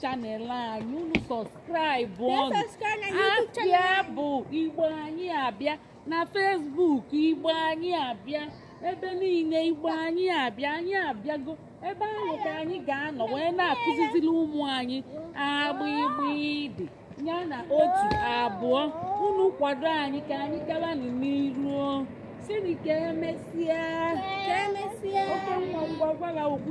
channel anyị unu subscribe ọnụ abịa bụ igbo anyị abịa na facebook igbo anyị abịa ebe niile igbo anyị abịa anyị abịago ebe ahụ ka anyị ga-anọ wee na-akụziziri ụmụ anyị a b gb d ya na otu abụọ unu kwado anyị ka anyị gabanụ n'iru sini ka emesịa oke nwa ngwa gwara okwu